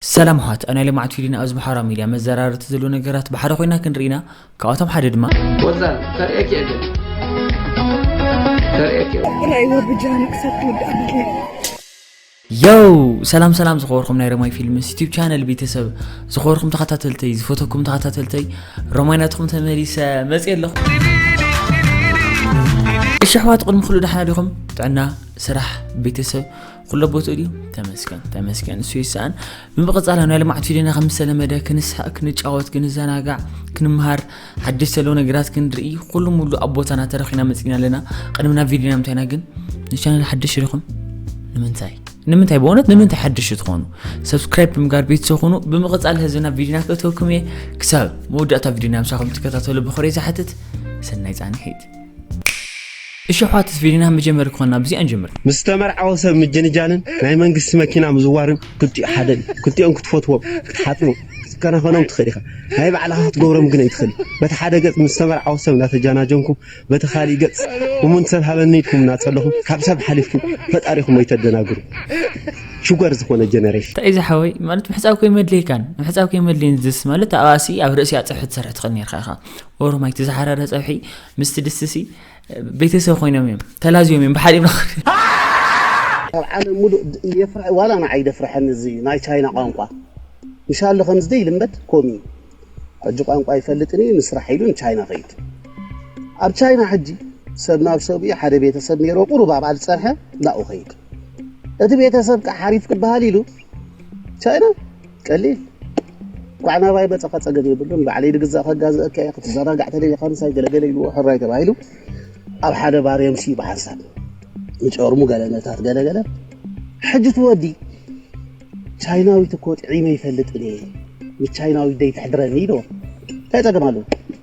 ሰላም ኣሕዋት ኣብ ናይ ልምዓት ቪድዮና ኣብዚ ማሕበራዊ ሚድያ መዘራረብቲ ዘለዉ ነገራት ብሓደ ኮይና ክንርኢ ኢና ካብኣቶም ሓደ ድማ ወዛል ከርእየኪ እየ ግን ከርእየኪ ራእይዎ ብጃኑ ክሳብ ትውዳእ ብድየ የው ሰላም ሰላም ዝኸበርኩም ናይ ረማይ ፊልምስ ዩቲብ ቻነል ቤተሰብ ዝኸበርኩም ተኸታተልተይ ዝፈተኩም ተኸታተልተይ ረማይ ናትኹም ተመሊሰ መፅእ ኣለኹ እሺ ኣሕዋት ቅድሚ ኩሉ ደሓና ዲኹም ጥዕና ስራሕ ቤተሰብ ኩሎ ቦትኡ ድዩ ተመስገን ተመስገን እሱ ይሰኣን ብምቕፃል ኣብ ናይ ልምዓት ቪድዮና ከም ዝተለመደ ክንስሓቅ ክንጫወት ክንዘናጋዕ ክንምሃር ሓድሽ ዘለዉ ነገራት ክንርኢ ኩሉ ሙሉ ኣብ ቦታና ተረኺና መፅና ኣለና ቅድሚ ናብ ቪድዮና ምንታይና ግን ንቻነል ሓድሽ ዲኹም ንምንታይ ንምንታይ በእውነት ንምንታይ ሓድሽ ትኾኑ ሰብስክራይብ ብምጋር ቤት ዝኾኑ ብምቕፃል ህዝብና ቪድዮና ክእተወኩም እየ ክሳብ መወዳእታ ቪድዮና ምሳኹም ትከታተሉ ብኽሪ ዝሓትት ሰናይ ፃንሒት እሺ ኣሕዋትስ ቪድዮና መጀመሪ ክኾና ብዚኣ ንጀምር። ምስ ዝተመርዓወ ሰብ ምጅንጃንን ናይ መንግስቲ መኪና ምዝዋርን ክልቲኡ ሓደ ድዩ? ክልቲኦም ክትፈትዎም፣ ክትሓጽቦም፣ ክትከናኸኖም ትኽእል ኢኻ። ናይ ባዕልኻ ክትገብሮም ግን ኣይትኽእልን። በቲ ሓደ ገጽ ምስ ዝተመርዓወ ሰብ እናተጃናጀንኩም በቲ ካሊእ ገጽ እሙን ሰብ ሃበኒ ኢልኩም እናጸለኹም ካብ ሰብ ሓሊፍኩም ፈጣሪኹም ኣይተደናግሩ። ሽጎር ዝኾነ ጀነሬሽን። እንታይ ዝሓወይ ማለት ምሕጻብ ከይመድለየካን ምሕጻብ ከይመድለየን ዝስ ማለት ኣብኣሲ ኣብ ርእሲኣ ጸርሒ ትሰርሕ ትኽእል ኔርካ ኢኻ ኦሮማይ እቲ ዝሓረረ ፀብሒ ምስቲ ድስቲ ሲ ቤተሰብ ኮይኖም እዮም ተላዝዮም እዮም ብሓደ ይብላ ካብ ዓለም ሙሉእ የፍርሐ ዋላ ንዓይ ደፍርሐኒ እዚ ናይ ቻይና ቋንቋ እንሻላ ከምዚ ዘይልመድ ኮም እዩ ሕጂ ቋንቋ ይፈልጥን እዩ ንስራሕ ኢሉ ንቻይና ከይድ ኣብ ቻይና ሕጂ ሰብ ናብ ሰብኡ ሓደ ቤተሰብ ነይሮ ቁሩብ ኣብኣ ዝፀርሐ ናብኡ ከይድ እቲ ቤተሰብ ከዓ ሓሪፍ ክበሃል ኢሉ ቻይና ቀሊል እንኳዕ ናባይ መፀኻ ፀገም የብሉን ባዕለይ ድግዛእ ከጋዝእካ እየ ክትዘናጋዕ ተደሊኻ ምሳይ ገለገለ ኢልዎ ሕራይ ተባሂሉ ኣብ ሓደ ባር የምስዩ ብሓንሳብ ንጨርሙ ገለነታት ገለገለ ሕጂ ትወዲ ቻይናዊት እኮ ጥዒመ ይፈልጥ እየ ንቻይናዊት ደይ ትሕድረኒ ኢልዎ እንታይ ፀገም ኣለዎ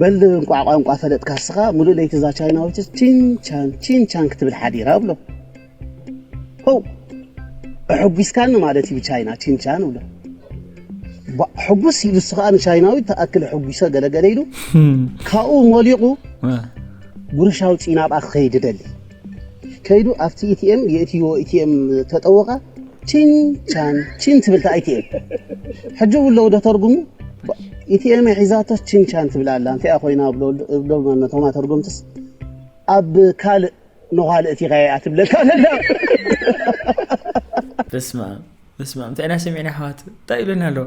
በል እንቋዕ ቋንቋ ፈለጥካ እስኻ ምሉእ ለይቲ እዛ ቻይናዊትስ ቺንቻን ቺንቻን ክትብል ሓዲራ እብሎ ሆው ኣሐጒስካኒ ማለት እዩ ቻይና ቺንቻን እብሎ ሕጉስ ኢሉ እሱ ከዓ ንቻይናዊ ተኣክል ሕጒሰ ገለገለ ኢሉ ካብኡ ሞሊቑ ጉርሻዊ ፂናብኣ ክኸይድ ደሊ ከይዱ ኣብቲ ኢቲኤም የእትይዎ ኢቲኤም ተጠወቐ ቺን ቻን ቺን ትብል እታ ኢቲኤም ሕጂ እውን ለውዶ ተርጉሙ ኢቲኤም ሒዛቶስ ቺን ቻን ትብል ኣላ እንታይ እያ ኮይና ብሎ ነቶም ኣተርጎምትስ ኣብ ካልእ ንኋል እቲኻ እያ ትብለካ ዘላ በስመ ኣብ በስመ ኣብ እንታይ ኢና ሰሚዕና ኣሕዋት እንታይ ይብለና ኣለዎ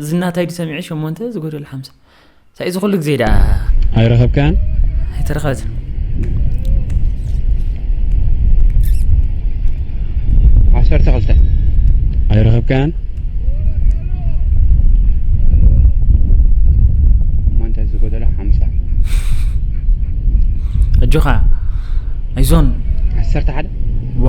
እዚ ናታይ ዲ ሰሚዐ ሸሞንተ ዝጎደለ ሓምሳ ሳይ እዚ ኩሉ ግዜ ደኣ ኣይረኸብካን ኣይተረኸበትን ዓሰርተ ክልተ ኣይረኸብካን ሸሞንተ ዝጎደለ ሓምሳ ኣጆኻ ኣይዞን ዓሰርተ ሓደ ዋ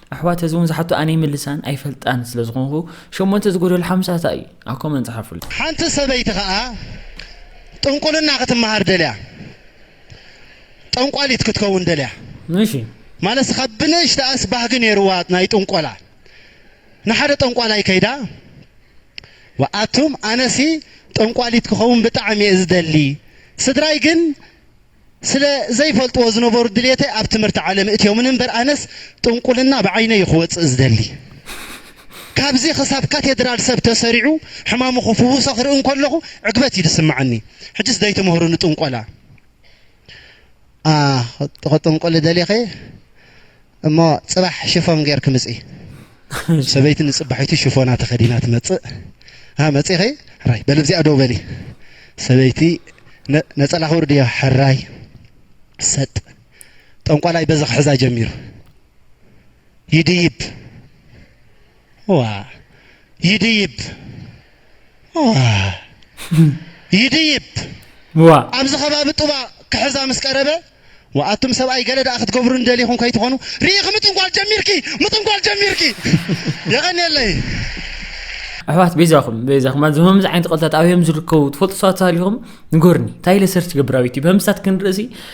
ኣሕዋት እዚ ውን ዝሓቶ ኣነ ይምልሳን ኣይፈልጣን ስለ ዝኾንኩ ሸሞንተ ዝጎደሎ ሓምሳ ታይ እዩ ኣብ ኮመንት ጸሓፉለይ። ሓንቲ ሰበይቲ ከኣ ጥንቁልና ክትመሃር ደልያ ጠንቋሊት ክትከውን ደልያ። እሺ። ማለትስ ካብ ብንእሽተኣስ ባህጊ ኔርዋ ናይ ጥንቆላ ንሓደ ጠንቋላይ ከይዳ ኣቱም ኣነሲ ጠንቋሊት ክኸውን ብጣዕሚ እየ ዝደሊ ስድራይ ግን ስለ ዘይፈልጥዎ ዝነበሩ ድልየተይ ኣብ ትምህርቲ ዓለም እእትዮምኒ እምበር ኣነስ ጥንቁልና ብዓይነይ እዩ ክወፅእ ዝደሊ ካብዚ ክሳብ ካቴድራል ሰብ ተሰሪዑ ሕማሙ ክፍውሶ ክርኢ እንከለኹ ዕግበት እዩ ዝስመዓኒ ሕጅስ ደይትምህሩኒ ጥንቆላ ኣኣ ክጥንቁሊ ደሊኺ እሞ ጽባሕ ሽፎን ጌርኪ ምጺ። ሰበይቲ ንጽባሒቱ ሽፎና ተኸዲና ትመጽእ። ሃ መጺኺ? ሕራይ በሊ ኣብዚኣ ደው በሊ። ሰበይቲ ነጸላኺ ኣውርድዮ። ሕራይ ሰጥ። ጠንቋላይ በዚ ክሕዛ ጀሚሩ። ይድይብ። ይድይብ ይድይብ ኣብዚ ከባቢ ጡባ ክሕዛ ምስ ቀረበ ኣቱም ሰብኣይ ገለ ደኣ ክትገብሩኒ ደሊኹም ከይትኾኑ ርኢኺ ምጥንቋል ጀሚርኪ ምጥንቋል ጀሚርኪ የቐንየለይ ኣሕዋት ቤዛኹም ቤዛኹም ኣዚ ከምዚ ዓይነት ቐልታት ኣብዮም ዝርከቡ ትፈልጡ ሰባት ተሃሊኹም ንጎርኒ እንታይ ኢለ ሰርች ገብር ኣብ ዩቲብ ህምሳት ክንርእሲ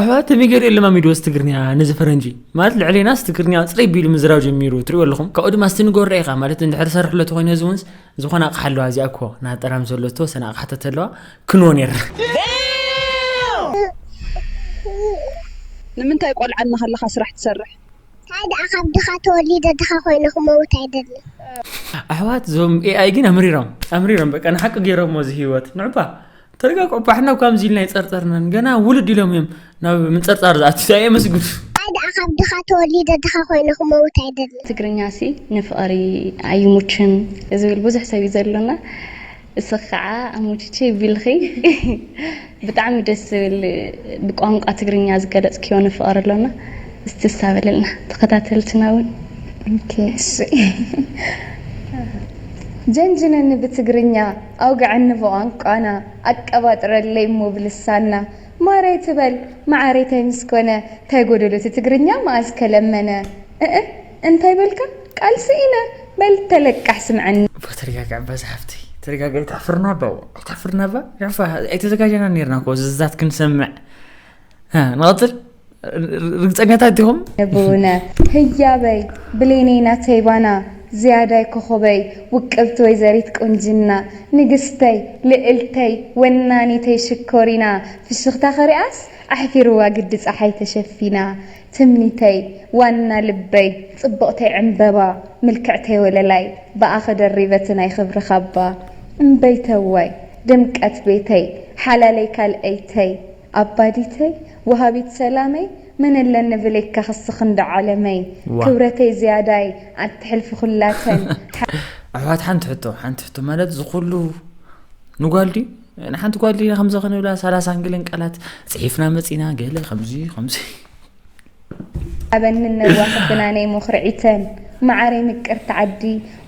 ኣሕዋት ሚገር እዩ ለማሚድዎስ ትግርንያ ነዚ ፈረንጂ ማለት ልዕሌናስ ትግርንያ ፅረይ ቢሉ ምዝራብ ጀሚሩ ትሪእዎ ኣለኹም ካብኡ ድማ ስቲ ንገሮ ኢኻ ማለት እንድሕር ሰርሕሎ ተኾይኑ እዚ እውንስ ዝኾነ ኣቕሓ ኣለዋ እዚኣ እኮ ናጠራም ዘሎ ተወሰነ ኣቕሓታት ኣለዋ ክንዎ ነይራ ንምንታይ ቆልዓ እናሃለኻ ስራሕ ትሰርሕ? ታይ ደኣ ካብ ድኻ ተወሊደ ድኻ ኮይነ ክመውት ኣይደልን። ኣሕዋት ዞም ኤኣይ ግን ኣምሪሮም ኣምሪሮም በቃ ንሓቂ ገይሮሞ እዚ ህይወት ንዕባ ተረጋግዑ ባሕና ካብዚ ኢልና ይፀርፀርናን ገና ውልድ ኢሎም እዮም ናብ ምንፀርፃር ዝኣትዩ ታይ የመስግኑ ታይ ደኣ ካብ ድኻ ተወሊደ ድኻ ኮይነ ክመውት ኣይደልን። ትግርኛ ሲ ንፍቅሪ ኣይሙችን ዝብል ብዙሕ ሰብ እዩ ዘሎና። እስኺ ከዓ ኣሞችቼ ቢልኺ ብጣዕሚ ደስ ዝብል ብቋንቋ ትግርኛ ዝገለፅክዮ ንፍቐር ኣሎና እስቲ እሳ በልልና ተኸታተልትና እውን ኦኬ እሺ ጀንጅነኒ ብትግርኛ ኣውግዐኒ ብቋንቋና ኣቀባጥረለይ እሞ ብልሳንና ማረይ ትበል መዓረይ ታይ ምስ ኮነ ታይ ጎደሎ እቲ ትግርኛ መኣዝ ከ ለመነ እእ እንታይ በልካ ቃልሲ ኢነ በል ተለቃሕ ስምዐኒ። እባ ተረጋግዒ እባ ዝሓፍተይ ተረጋግዒ ኣይተሕፍርና እባ ዋእ ኣይተሕፍርና እባ ዕፋ ኣይተዘጋጀና ኔርና እኮ ዝዛት ክንሰምዕ እ ንቐፅል ርግፀኛታት ዲኹም ንቡነ ህያበይ ብሌነይ ናተይ ባና ዝያዳይ ኮኾበይ ውቅብቲ ወይዘሪት ቁንጅና ንግስተይ ልእልተይ ወናኒተይ ሽኮሪና ፍሽኽታኺ ሪኣስ ኣሕፊርዋ ግዲ ፀሓይ ተሸፊና ትምኒተይ ዋና ልበይ ጽብቕተይ ዕምበባ ምልክዕተይ ወለላይ ብኣኺ ደሪበቲ ናይ ኽብሪ ኻባ እምበይተዋይ ድምቀት ቤተይ ሓላለይ ካልኣይተይ ኣባዲተይ ወሃቢት ሰላመይ መን'ለኒ ብሌካ ኽስኽ እንዶ ዓለመይ ዋእ። ክብረተይ ዝያዳይ ኣትሕልፊ ኹላተን ኣሕዋት ሓንቲ ሕቶ ሓንቲ ሕቶ ማለት ዝኹሉ ንጓል ድዩ? ንሓንቲ ጓል ዲና ከምዚ ክንብላ ሰላሳን ገለን ቃላት ፅሒፍና መፂና ገለ ከምዚ ከምዚ ኣበንን ነዋሕትና ነይ ሞኽርዒተን መዓረይ ምቅርቲ ዓዲ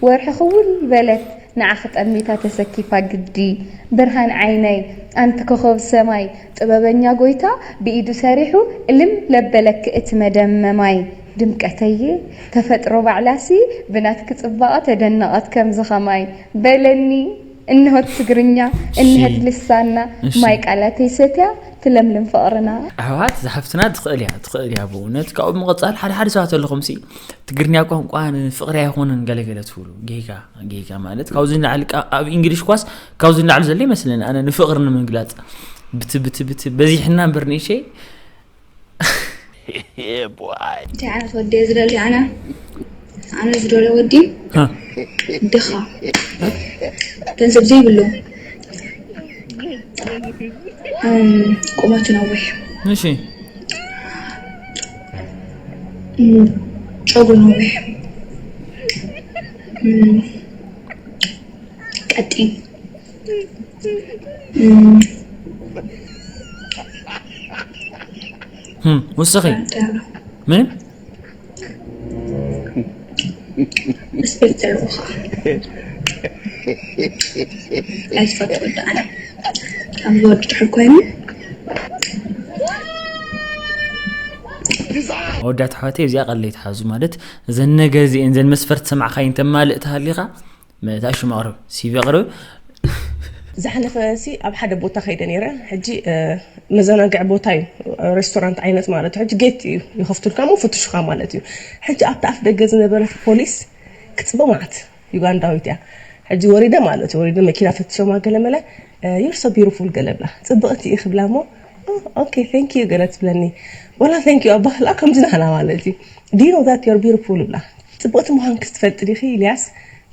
ወርሒ ክውል በለት ንዓኺ ጠሚታ ተሰኪፋ ግዲ ብርሃን ዓይነይ ኣንቲ ኮኾብ ሰማይ ጥበበኛ ጎይታ ብኢዱ ሰሪሑ እልም ለበለኪ እቲ መደመማይ ድምቀተየ ተፈጥሮ ባዕላሲ ብናትኪ ፅባቐ ተደነቐት ከምዚ ከማይ በለኒ እንሆ ትግርኛ እንሀት ልሳና ማይ ቃላተይ ሰትያ ትለምልም ፍቅርና። ኣሕዋት ዛሓፍትና ትኽእል እያ ትኽእል እያ ብእውነት ካብኡ ብምቕፃል ሓደ ሓደ ሰባት ኣለኹም ሲ ትግርኛ ቋንቋ ንፍቕሪ ኣይኮነን ገለገለ ትብሉ ጌጋ ጌጋ ማለት ካብዚ ንላዕሊ ኣብ እንግሊሽ ኳስ ካብዚ ንላዕሊ ዘሎ ይመስለኒ ኣነ ንፍቕሪ ንምግላፅ ብቲ ብቲ ብቲ በዚሕና እምበር ንእሸይ እንታይ ዓይነት ወዲ እየ ዝደሊ ኣነ ኣነ ዝደለ ወዲ ድኻ ገንዘብ ዘይብሉ ቁመቱ ነዊሕ እሺ ጨጉሩ ነዊሕ ቀጢን ውስኺ ምን ስፔክተር ውኻ ኣይትፈትዎ ደኣነ ካብ ዝወድ ድሕር ኮይኑ ኣወዳት ኣሕዋተይ እዚኣ ቀለይ ትሓዙ ማለት እዘን ነገር እዚአን ዘን መስፈርት ሰማዕካይ እንተማልእ ተሃሊኻ መታ ሽም ኣቕርብ ሲቪ ኣቕርብ ዝሓለፈ ሲ ኣብ ሓደ ቦታ ከይደ ነይረ ሕጂ መዘናግዒ ቦታ እዩ ሬስቶራንት ዓይነት ማለት ሕጂ ጌት እዩ ይኸፍቱልካ ሞ ፍትሹኻ ማለት እዩ ሕጂ ኣብቲ ኣፍ ደገ ዝነበረት ፖሊስ ክፅበ ማዓት ዩጋንዳዊት እያ ሕጂ ወሪደ ማለት እዩ ወሪደ መኪና ፈትሾማ ገለመለ ዩር ሶ ቢሩፉል ገለ ብላ ፅብቕቲ እዩ ክብላ ሞ ኦኬ ቴንክ ዩ ገለ ትብለኒ ወላ ቴንክ ዩ ኣባህላ ከምዚ ናህና ማለት እዩ ዲኖ ዛት ዮር ቢሩፉል ብላ ጽብቅቲ ምዃንኪ ትፈልጢ ዲኺ ኢልያስ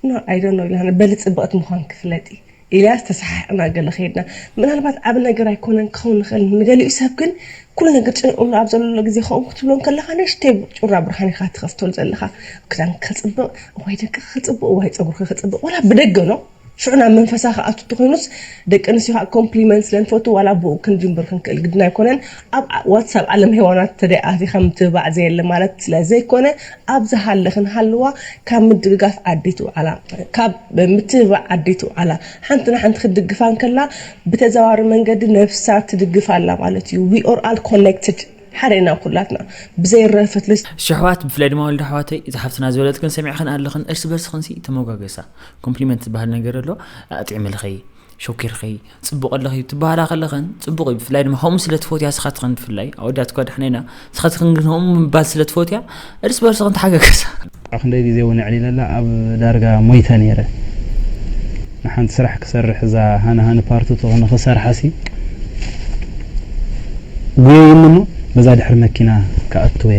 ን ኣይ ዶኖ ኢላና በሊ ጽብቅቲ ምዃንኪ ፍለጢ ኢልያስ ተሰሓሕቅና ገለ ከይድና ምናልባት ዓቢ ነገር ኣይኮነን ክኸውን ይኽእል ንገሊኡ ሰብ ግን ኩሉ ነገር ጨኒቅሉ ኣብ ዘለሎ ግዜ ከምኡ ክትብሎ ከለኻ ንእሽተይ ጩራ ብርሃን ኢኻ ትኸፍተሉ ዘለኻ ክዳንኪ ክጽብቅ እዋይ ደቅኺ ክጽብቁ ዋይ ጸጉርኪ ክጽብቅ ወላ ብደገ ን ሽዑ ናብ መንፈሳ ክኣቱ እንተኾይኑስ ደቂ ኣንስትዮ ከዓ ኮምፕሊመንት ስለንፈቱ ዋላ ኣቦኡ ክንጅምብር ክንክእል ግድን ኣይኮነን ኣብ ዋትሳብ ዓለም ሄዋናት ተደይ ኣቲኻ ምትብባዕ ዘየለ ማለት ስለዘይኮነ ኣብ ዝሃለኽን ሃልዋ ካብ ምድግጋፍ ዓደይቲ ውዓላ ካብ ምትብባዕ ዓደይቲ ውዓላ ሓንቲ ንሓንቲ ክትድግፋ እንከላ ብተዘዋዋሪ መንገዲ ነብሳ ትድግፍ ኣላ ማለት እዩ we are all connected ሓደ ኢና ኩላትና ብዘይ ረፈት ልስ ሽሕዋት ብፍላይ ድማ ወልደ ኣሕዋተይ እዛ ሓፍትና ዝበለትክን ሰሚዕክን ኣለኽን እርሲ በርስኽንሲ ተመጓገሳ ኮምፕሊመንት ዝበሃል ነገር ኣሎ ኣጥዕምልኺ ሾኪርኺ ፅቡቅ ኣለኺ ትበሃላ ከለኸን ፅቡቅ እዩ ብፍላይ ድማ ከምኡ ስለ ትፈትያ ስኻትኽን ብፍላይ ኣወዳት እኳ ድሕና ኢና ስኻትኽን ግን ከምኡ ምባል ስለ ትፈትያ እርስ በርስኽን ተሓገገሳ ኣክንደይ ግዜ እውን ኣዕሊለላ ኣብ ዳርጋ ሞይተ ነይረ ንሓንቲ ስራሕ ክሰርሕ እዛ ሃኒ ሃኒ ፓርትቱ ንክሰርሓሲ ጉየይኒ እሞ በዛ ድሕሪ መኪና ክኣትወ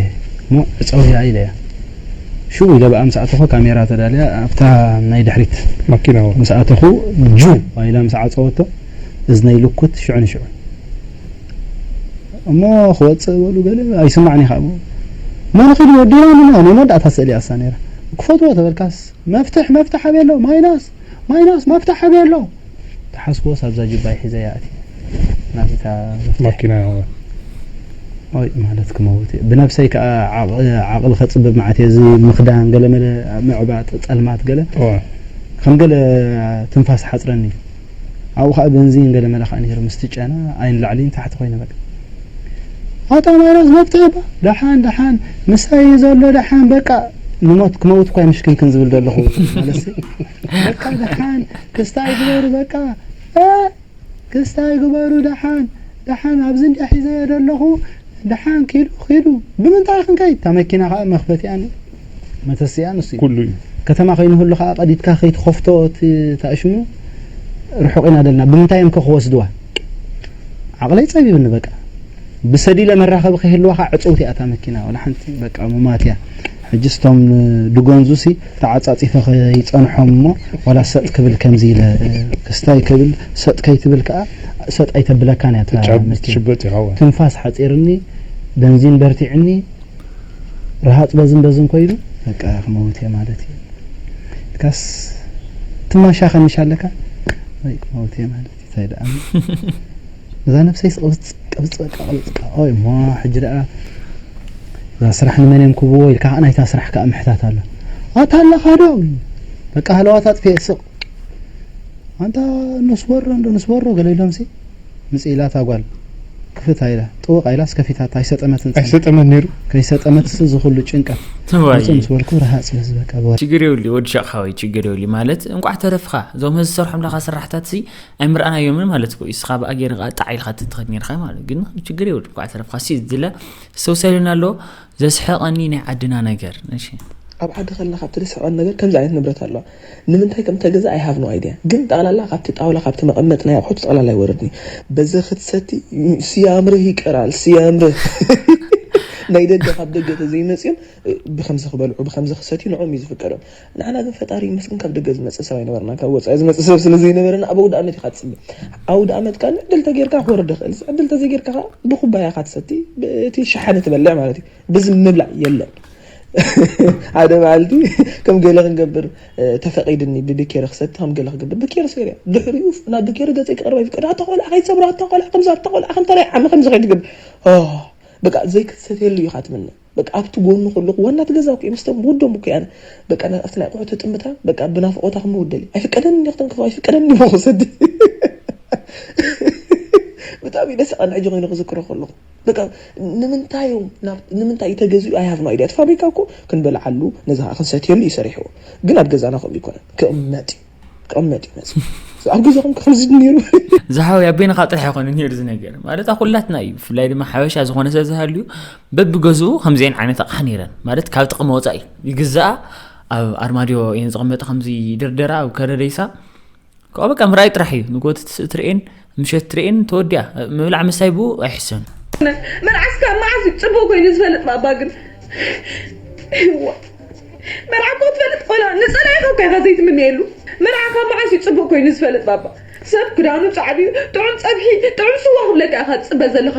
እሞ ዕፀውያ ኢለያ ሽው ኢለ ብኣ ምስ ኣተኹ ካሜራ ተዳልያ ኣብታ ናይ ድሕሪት ማኪና ምስ ኣተኹ ጁው ኢላ ምስ ዓጸወቶ እዝነይ ልኩት ሽዑ ንሽዑ እሞ ክወጽእ በሉ ገለ ኣይስማዕን ኢኻ እሞ መን ኺዱ ወዲና ንና ናይ መወዳእታ ስእሊ እያ እሳ ነይራ ክፈትዎ ተበልካስ መፍትሕ መፍትሕ ኣበይ ኣሎ ማይናስ ማይናስ መፍትሕ ኣበይ ኣሎ ተሓስቦስ ኣብዛ ጅባይ ሒዘያ ኣትየ ናትካ መፍትሕ ማኪና ይኸውን ኦይ ማለት ክመውት እየ ብነብሰይ ከኣ ዓቕሊ ከጽብብ መዓት እየ እዚ ምኽዳን ገለ መለ ምዕባጥ ጸልማት ገለ ከም ገለ ትንፋስ ሓጽረኒ እዩ ኣብኡ ከኣ በንዚን ገለ መለ ከኣ ነይሩ ምስቲ ጨና ኣይንላዕሊ ንታሕቲ ኮይነ በቃ ኣታ ማይናስ መብተይ እባ ደሓን ደሓን ምሳይ እዩ ዘሎ ደሓን በቃ ንሞት ክመውት እኳ ምሽክንክን ዝብል ዘለኹ ማለሲ በቃ ደሓን ክስታይ ግበሩ በቃ ክስታይ ግበሩ ደሓን ደሓን ኣብዚ እንዲያ ሒዘዮ ዘለኹ ደሓን ኪዱ ኪዱ ብምንታይ ክንከይድ እታ መኪና ከዓ መኽፈቲኣን መተስእያ ንሱ ኩሉ እዩ። ከተማ ከይንህሉ ከኣ ቀዲድካ ከይትኸፍቶ እቲ ታእሽሙ ርሑቕ ኢና ደልና ብምንታይ እዮም ከ ክወስድዋ ዓቕለይ ጸቢብኒ በቃ ብሰዲለ መራኸቢ ከይህልዋኻ ዕጽውቲ እያ እታ መኪና ወላ ሓንቲ በቃ ሙማት እያ ሕጅስ እቶም ድጎንዙሲ ተዓጻጺፈ ከይጸንሖም እሞ ወላ ሰጥ ክብል ከምዚ ኢለ ክስታይ ክብል ሰጥ ከይትብል ከኣ ሰጥ ኣይተብለካን እያ እታ መኪና ትንፋስ ሓጺርኒ በንዚን በርቲዕኒ ረሃጽ በዝን በዝን ኮይኑ በቃ ክመውት እየ ማለት እዩ ኢልካስ ትማሻ ከንሻ ኣለካ ወይ ክመውት እየ ማለት እዩ እንታይ ደኣ እዛ ነብሰይ ስቅብጽ ቅብጽ በቃ ቅብጽ ኦይ እሞ ሕጂ ደኣ እዛ ስራሕ ንመን እዮም ክብዎ ኢልካ ከዓ ናይታ ስራሕ ከዓ ምሕታት ኣሎ ኣታ ኣለኻ ዶ በቃ ሃለዋት ኣጥፍኤ ስቕ ኣንታ ንስወሮ እንዶ ንስወሮ ገለ ኢሎምሲ ምጽእ ኢላ እታ ጓል ክፍት ኣይላ ጥውቕ ኣይላስ ከፊታታ ኣይሰጠመትን ጽንሕ ኣይሰጠመት ነይሩ ከይሰጠመትስ እዚ ኩሉ ጭንቀት ውጽእ ምስ በልኩ ርሃጽ ኢለስ በቃ ብወረ ችግር የብሉ ወዲ ሸቅ ሓወይ ችግር የብሉ ማለት እንቋዕ ተረፍኻ እዞም ህዚ ዝሰርሖም ለኻ ስራሕታት ሲ ኣይምርኣናዮምን ማለት እኮ እስኻ ብኣ ገይረ ከዓ ጣዕ ኢልካ ትትኸድ ነርካ ማለት ግን ችግር የብሉ እንቋዕ ተረፍካ ሲ ዝለ ዝተውሰልን ኣሎ ዘስሐቀኒ ናይ ዓድና ነገር እሺ ኣብ ዓዲ ከለኻ እቲ ዝስሕቀኒ ነገር ከምዚ ዓይነት ንብረት ኣለዋ ንምንታይ ከም እተገዝኣ i have no idea ግን ጠቅላላ ካብቲ ጣውላ ካብቲ መቀመጢ ናይ ኣቁሑት ጠቅላላ ይወረድኒ በዚ ክትሰቲ ስያምርህ ይቀራል ስያምርህ ናይ ደገ ካብ ደገ ተዘይ መጽዮም ብከምዚ ክበልዑ ብከምዚ ክሰትዩ ንዕኦም እዩ ዝፍቀዶም ንዓና ግን ፈጣሪ ይመስገን ካብ ደገ ዝመጽእ ሰብ ኣይነበርናን ካብ ወጻኢ ዝመጽእ ሰብ ስለ ዘይነበረና ኣብ ኣውድኣመት ኢካ ትጽበ ኣውድኣመት ካኣ ዕድል ተገርካ ክወርድ ይክእል ዕድል ተዘይ ገርካ ካኣ ብኩባያ ኢካ ትሰቲ ብእቲ ሸሓኒ ትበልዕ ማለት እዩ ብዝም ምብላዕ የለን ሓደ መዓልቲ ከም ገለ ክንገብር ተፈቂድኒ ብብኬሪ ክሰቲ ከም ገለ ክገብር ብኬሪ ሰይረ ድሕሪኡ ናብ ብኬሪ ገጸይ ክቅርብ ኣይፍቀድ ኣታ ቆልዓ ከይትሰብራ ኣታ ቆልዓ ከምዚ ኣታ ቆልዓ ከምታ ናይ ዓሚ ከምዚ ከይትገብር በቃ ዘይክትሰትየሉ ኢኻ ትምነ በቃ ኣብቲ ጎኑ ከለኹ ዋናት ገዛ እኮ ምስ ውዶም እኮ ኣነ በቃ ኣብቲ ናይ ኣቑሑ ትጥምታ በቃ ብናፍቖታ ክምውደል ኣይፍቀደኒ ክተንክፎ ኣይፍቀደኒ ሞ ክሰቲ ብጣዕሚ ደስ ቃን ሕጂ ኮይኑ ክዝክሮ ከለኹ በቃ ንምንታይ እዮም ናብ ንምንታይ እዩ ተገዚኡ ኣይ ሃቭ ኖ ኣይድያ እቲ ፋብሪካ እኮ ክንበልዓሉ ነዚ ከዓ ክንሰትየሉ እዩ ሰሪሕዎ ግን ኣብ ገዛና ከምኡ ኣይኮነን ክቕመጥ እዩ ክቕመጥ እዩ መፅ ኣብ ገዛኹም ከምዚ ነይሩ ዝሓወይ ኣብ በይንኻ ጥራሕ ኣይኮነን ነይሩ እዚ ነገር ማለት ኣብ ኩላትና እዩ ብፍላይ ድማ ሓበሻ ዝኾነ ሰብ ዝሃልዩ በብገዝኡ ከምዚአን ዓይነት ኣቕሓ ነይረን ማለት ካብ ጥቕሚ ወፃኢ ይግዛኣ ኣብ ኣርማድዮ እየን ዝቕመጥ ከምዚ ይድርደራ ኣብ ከረደይሳ ካብኡ በቃ ምርኣይ ጥራሕ እዩ ንጎት ትርእን ምሸት ትርእን ተወዲኣ ምብላዕ ምሳይ ብኡ ኣይሕሰን መልዓስ ካብ መዓዝ እዩ ፅቡቅ ኮይኑ ዝፈልጥ ባባ ግን መርዓ እኮ ትፈልጥ ቆላ ንፀላኢ ካብካ ኢካ ዘይትምነየሉ መርዓ ካብ መዓዝ እዩ ፅቡቅ ኮይኑ ዝፈልጥ ባባ ሰብ ክዳኑ ፃዕዱ እዩ ጥዑም ፀብሒ ጥዑም ስዋ ክብለካ ኢካ ትፅበ ዘለካ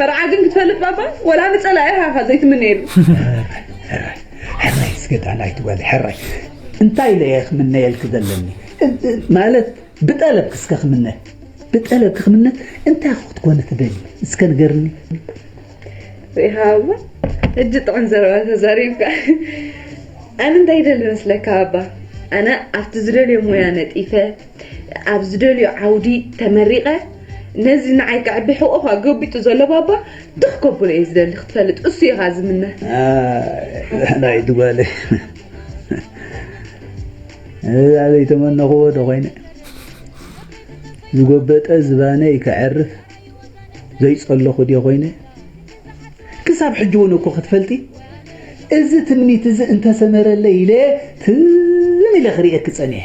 መርዓ ግን ክትፈልጥ ባባ ወላ ንጸላኢኻ ኢኻ ዘይትምነየሉ። ሕራይ እስከ ዳን ኣይትበል ሕራይ እንታይ ኢለ እየ ክምነየልኪ ዘለኒ ማለት ብጠለብኪ እስከ ክምነ ብጠለብኪ ክምነ እንታይ እኮ ክትኮኒ ትደሊ እስከ ንገርኒ ዘይሃባ እጅ ጥዑም ዘረባ ተዛሪብካ ኣነ እንታይ ይደሊ መስለካ ባባ ኣነ ኣብቲ ዝደልዮ ሙያ ነጢፈ ኣብ ዝደልዮ ዓውዲ ተመሪቐ ነዚ ንዓይ ከዕቢ ሕቖ ኣጎቢጡ ዘሎ ባባ ትኽ ከብሎ እየ ዝደሊ ክትፈልጥ እሱ እየ ከኣ ዝምነ። ላይት ጓለይ እዛ ዘይተመነኽዎ ዶ ኮይነ ዝጎበጠ ዝባነይ ከዕርፍ ዘይጸለኹ ድየ ኮይነ ክሳብ ሕጂ እውን እኮ ክትፈልጢ እዚ ትምኒት እዚ እንተሰመረለይ ኢለ ትም ኢለ ክርእየኪ ጸኒሐ።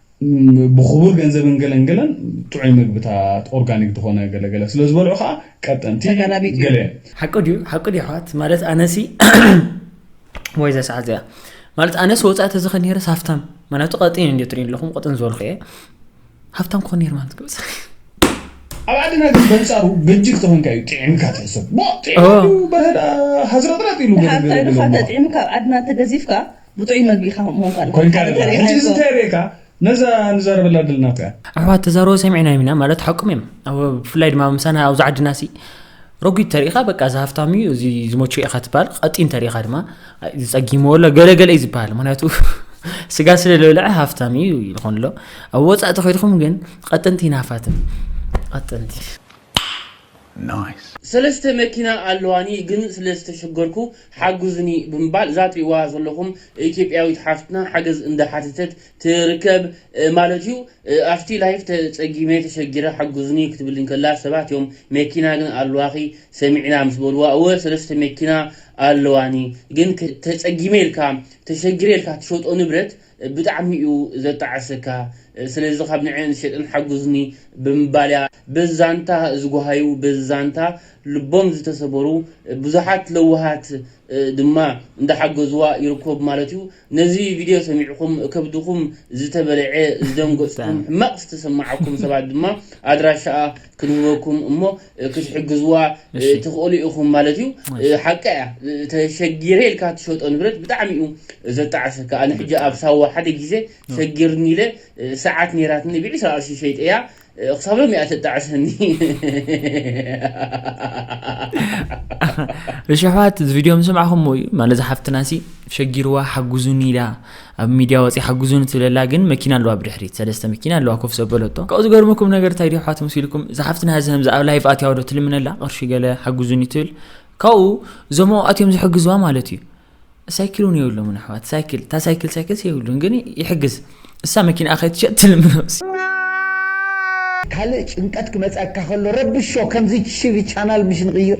ብኽቡር ገንዘብን ገለን ገለን ጥዑይ ምግብታት ኦርጋኒክ ዝኾነ ገለ ገለ ስለ ዝበልዑ ከኣ ቀጠንቲ ተጋላቢጡ ገለ እዩ። ሓቂ ድዩ ሓቂ ድዩ ኣሕዋት ማለት ኣነሲ ወይ ዘሰዓት እዚኣ ማለት ኣነስ ወፃኢ ተዝኸ ነይረስ ሃፍታም ምክንያቱ ቀጢን እንዲ ትሪኢ ኣለኹም ቀጥን ዝበልኩ እየ ሃፍታም ክኾን ነይር ማለት ግብፅ ኣብ ዓድና ግን በንፃሩ በጅግ ተኾንካ እዩ ጥዒምካ ትሕሰብ ሞ ጥዒሙ በህዳ ሃዝረጥረጥ ኢሉ ገለገለ ተጥዒምካ ኣብ ዓድና ተገዚፍካ ብጥዑይ መግቢ ኢካ ከምኡ ኮንካ ኮንካ ኣለካ ኣለካ ሕጂ እዚ እንታይ ርኢካ ነዛ ንዛረበላ ዘለና ርኣ ኣሕዋት ተዛረቡ ሰሚዕናዮም ኢና ማለት ሓቁም እዮም ኣብ ብፍላይ ድማ ምሳና ኣብዚ ዓድና ሲ ረጒድ ተሪኢኻ በቃ እዚ ሃፍታም እዩ እዚ ዝመቾ ኢኻ ትበሃል ቀጢን ተሪኢኻ ድማ ኣይ፣ እዚ ጸጊምዎ ኣሎ ገለገለ እዩ ዝበሃል ምክንያቱ ስጋ ስለ ዝበልዐ ሃፍታም እዩ ይኾን ኣሎ ኣብ ወጻእ ተኸድኩም ግን ቐጠንቲ ይናፋትን ቐጠንቲ Nice። ሰለስተ መኪና ኣለዋኒ ግን ስለ ዝተሸገርኩ ሓግዙኒ ብምባል ዛትሪእዋ ዘለኹም ኢትዮጵያዊት ሓፍትና ሓገዝ እንዳሓተተት ትርከብ ማለት እዩ። ኣብቲ ላይፍ ተጸጊመ ተሸጊረ ሓግዙኒ ክትብል እንከላ ሰባት እዮም መኪና ግን ኣለዋኺ ሰሚዕና ምስ በልዋ እወ ሰለስተ መኪና ኣለዋኒ ግን ተጸጊመ ኢልካ ተሸጊረ ኢልካ ትሸጦ ንብረት ብጣዕሚ እዩ ዘጣዕሰካ ስለዚ ካብ ንዐኤን ዝሸጠን ሓጉዝኒ ብምባል እያ። በዚ ዛንታ ዝጎሃዩ በዚ ዛንታ ልቦም ዝተሰበሩ ብዙሓት ለዋሃት ድማ እንዳሓገዝዋ ይርከቡ ማለት እዩ። ነዚ ቪድዮ ሰሚዕኹም ከብድኹም ዝተበልዔ፣ ዝደንገጽኩም፣ ሕማቕ ዝተሰማዓኩም ሰባት ድማ ኣድራሻኣ ክንህበኩም እሞ ክትሕግዝዋ ትኽእሉ ኢኹም ማለት እዩ። ሓቃ እያ ተሸጊረ ኢልካ ትሸጦ ንብረት ብጣዕሚ እዩ ዘጣዕሰካ። ኣነ ሕጂ ኣብ ሳዋ ሓደ ግዜ ሸጊርኒ ኢለ ሰዓት ነይራትኒ ብዒስራ ቅርሺ ሸይጠያ ክሳብ ሎሚ እያ ተጣዕሰኒ። እሽሕዋት እዚ ቪድዮ ምስማዕኹምዎ እዩ ማለት ዝሓፍትና ሲ ሸጊርዋ ሓጉዙኒ ኢላ ኣብ ሚድያ ወጽያ ሓግዙኒ ትብለላ ግን መኪና ኣለዋ ብድሕሪት ሰለስተ መኪና ኣለዋ ኮፍ ዘበለቶ ካብኡ ዝገርመኩም ነገር እንታይ ድዩ ኣሕዋት መሲልኩም እዛ ሓፍትና ሀዚ ከምዚ ኣብ ላይቭ ኣትያ ዶ ትልምነላ ቅርሺ ገለ ሓግዙኒ ትብል ካብኡ እዞም ኣብኡ ኣትዮም ዝሕግዝዋ ማለት እዩ ሳይክል እውን የብሎምን ኣሕዋት ሳይክል እታ ሳይክል ሳይክልስ የብሉን ግን ይሕግዝ እሳ መኪና ከይትሸጥ ትልምኖስ ካልእ ጭንቀት ክመጸካ ከሎ ረብሾ ከምዚ ሽቢ ቻናል ምሽ ንቕይር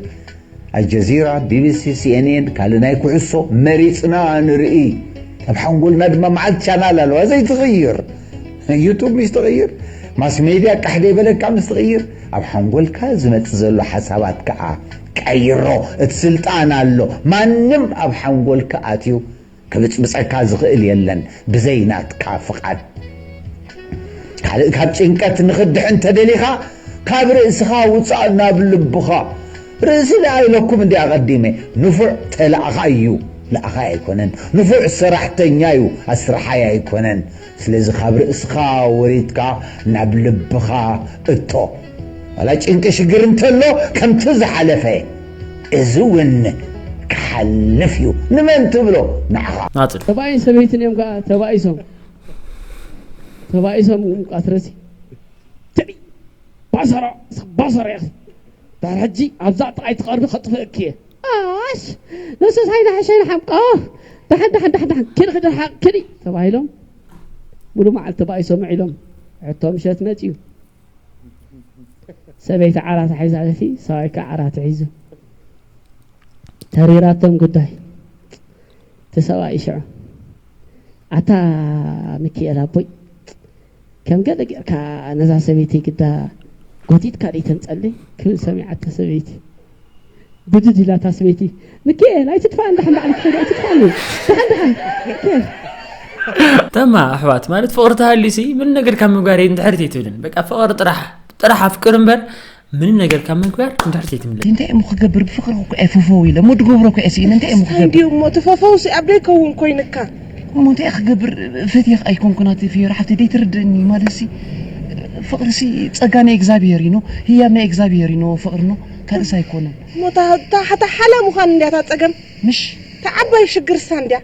ኣልጀዚራ፣ ቢቢሲ፣ ሲኤንኤን ካልእ ናይ ኩዕሶ መሪጽና ንርኢ ኣብ ሓንጎልና ድማ መዓልቲ ቻናል ኣለዋ ዘይትቕይር ዩቱብ ምስ ትቕይር ማስ ሜድያ ቃሕ ዘይበለካ ምስ ትቕይር ኣብ ሓንጎልካ ዝመጽእ ዘሎ ሓሳባት ከኣ ቀይሮ እቲ ስልጣን ኣሎ ማንም ኣብ ሓንጎልካ ኣትዩ ክብጽብጸካ ዝኽእል የለን ብዘይ ናትካ ፍቓድ። ካልእ ካብ ጭንቀት ንኽትድሕን ተደሊኻ ካብ ርእስኻ ውጻእ ናብ ልብኻ። ርእሲ ደኣ ኢለኩም እንድየ ኣቐዲመ። ንፉዕ ተላኣኻይ እዩ፣ ለኣኻይ ኣይኮነን። ንፉዕ ሰራሕተኛ'ዩ፣ ኣስራሓይ ኣይኮነን። ስለዚ ካብ ርእስኻ ወሪድካ ናብ ልብኻ እቶ። ዋላ ጭንቂ ሽግር እንተሎ ከምቲ ዝሓለፈ እዚ እውን ክሓልፍ እዩ ንመን ትብሎ ንዓኻ። ናጽል። ሰብኣይን ሰበይትን እዮም ከኣ ተባኢሶም ተባኢሶም እም ቃትረሲ ትዕይ ባሰሮ ሰብ ባሰሮ ኢኺ ድሕሪ ሕጂ ኣብዛ ጥቓይ ትቐርቢ ከጥፍእኪ እየ። ኣሽ ንሱ ሳይናሕሸይ ንሓምቆ ዳሓን ዳሓን ዳሓን ዳሓን ኪዲ ኪዲ ርሓቅ ኪዲ ተባሂሎም ሙሉ መዓልቲ ተባኢሶም ውዒሎም ሕቶ ምሸት መፅዩ ሰበይቲ ዓራት ሒዛ እቲ ሰብኣይ ከዓ ዓራት ሒዙ ተሪራቶም ጉዳይ እቲ ሰብኣይ ሽዑ ኣታ ሚኪኤል ኣቦይ ከም ገለ ጌርካ ነዛ ሰበይቲ ግዳ ጎቲትካ ደይተንጸልይ ክብል ሰሚዓቶ ሰበይቲ ብድድ ኢላ እታ ሰበይቲ ምኪኤል ኣይትጥፋኣን ደሓን ባዕልኪ ከይዲ ኣይትጥፋኣኒ ደሓን ደሓን ምኪኤል ተማ ኣሕዋት ማለት ፍቕሪ ተሃልዩሲ ምን ነገር ካብ ምግባር እንድሕርቲ ትብልን በቃ ፍቕሪ ጥራሕ ጥራሕ ኣፍቅር እምበር ምንም ነገር ካብ ምንኩያር ንድሕር ዘይትምለስ እንታይ እሞ ክገብር ብፍቅሪ ኩኩዐ ፎፈው ኢለ እሞ ድገብሮ ኩዐ ስኢነ እንታይ እሞ ክገብር እንዲዩ እሞ እቲ ፎፈው ሲ ኣብ ደይከውን ኮይንካ እሞ እንታይ ክገብር ፈትየኽ ኣይኮንኩን ኣቲ ፍዮሪ ሓፍተይ ደይትርድእኒ ማለትሲ ፍቅሪሲ ጸጋ ናይ እግዚኣብሄር እዩ ኖ ህያብ ናይ እግዚኣብሄር እዩ ኖ ፍቅሪ ኖ ካልእስ ኣይኮነን እሞ እታ እታ ሓላ ምዃን እንዲያ እታ ጸገም ምሽ እታ ዓባይ ሽግርሳ እንዲያ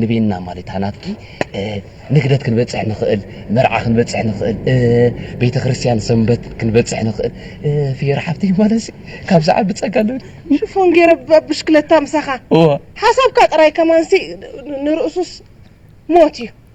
ንቤና ማለት ኣናትኪ ንግደት ክንበጽሕ ንኽእል መርዓ ክንበጽሕ ንኽእል ቤተ ክርስቲያን ሰንበት ክንበጽሕ ንኽእል ፍየራ ሓብተይ ማለት ካብ ዝዓቢ ጸጋ ኣለኒ ሽፎን ገይረ ብሽክለታ ምሳኻ ሓሳብካ ጥራይ ከማንሲ ንርእሱስ ሞት እዩ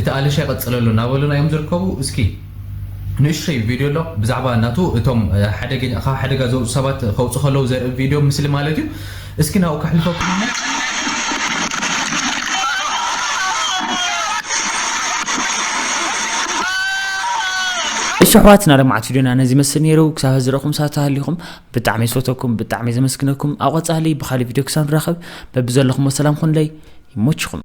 እቲ ኣልሻይ ቀፅለሉ ናበሉና እዮም ዝርከቡ እስኪ ንእሽቶይ ቪድዮ ኣሎ ብዛዕባ ናቱ እቶም ሓደገኛ ካብ ሓደጋ ዘውፁ ሰባት ከውፁ ከለው ዘርኢ ቪድዮ ምስሊ ማለት እዩ እስኪ ናብኡ ከሕልፈኩም እሞ እሺ ኣሕዋትና ለማዓት ቪድዮና ነዚ ይመስል ነይሩ ክሳብ ሕዚ ረኹም ሳት ሃሊኹም ብጣዕሚ ዝፈተኩም ብጣዕሚ ዘመስግነኩም ኣብ ቐፃሊ ብካሊእ ቪድዮ ክሳብ ንራኸብ በቢ ዘለኹሞ ሰላም ኩንለይ ይሞችኹም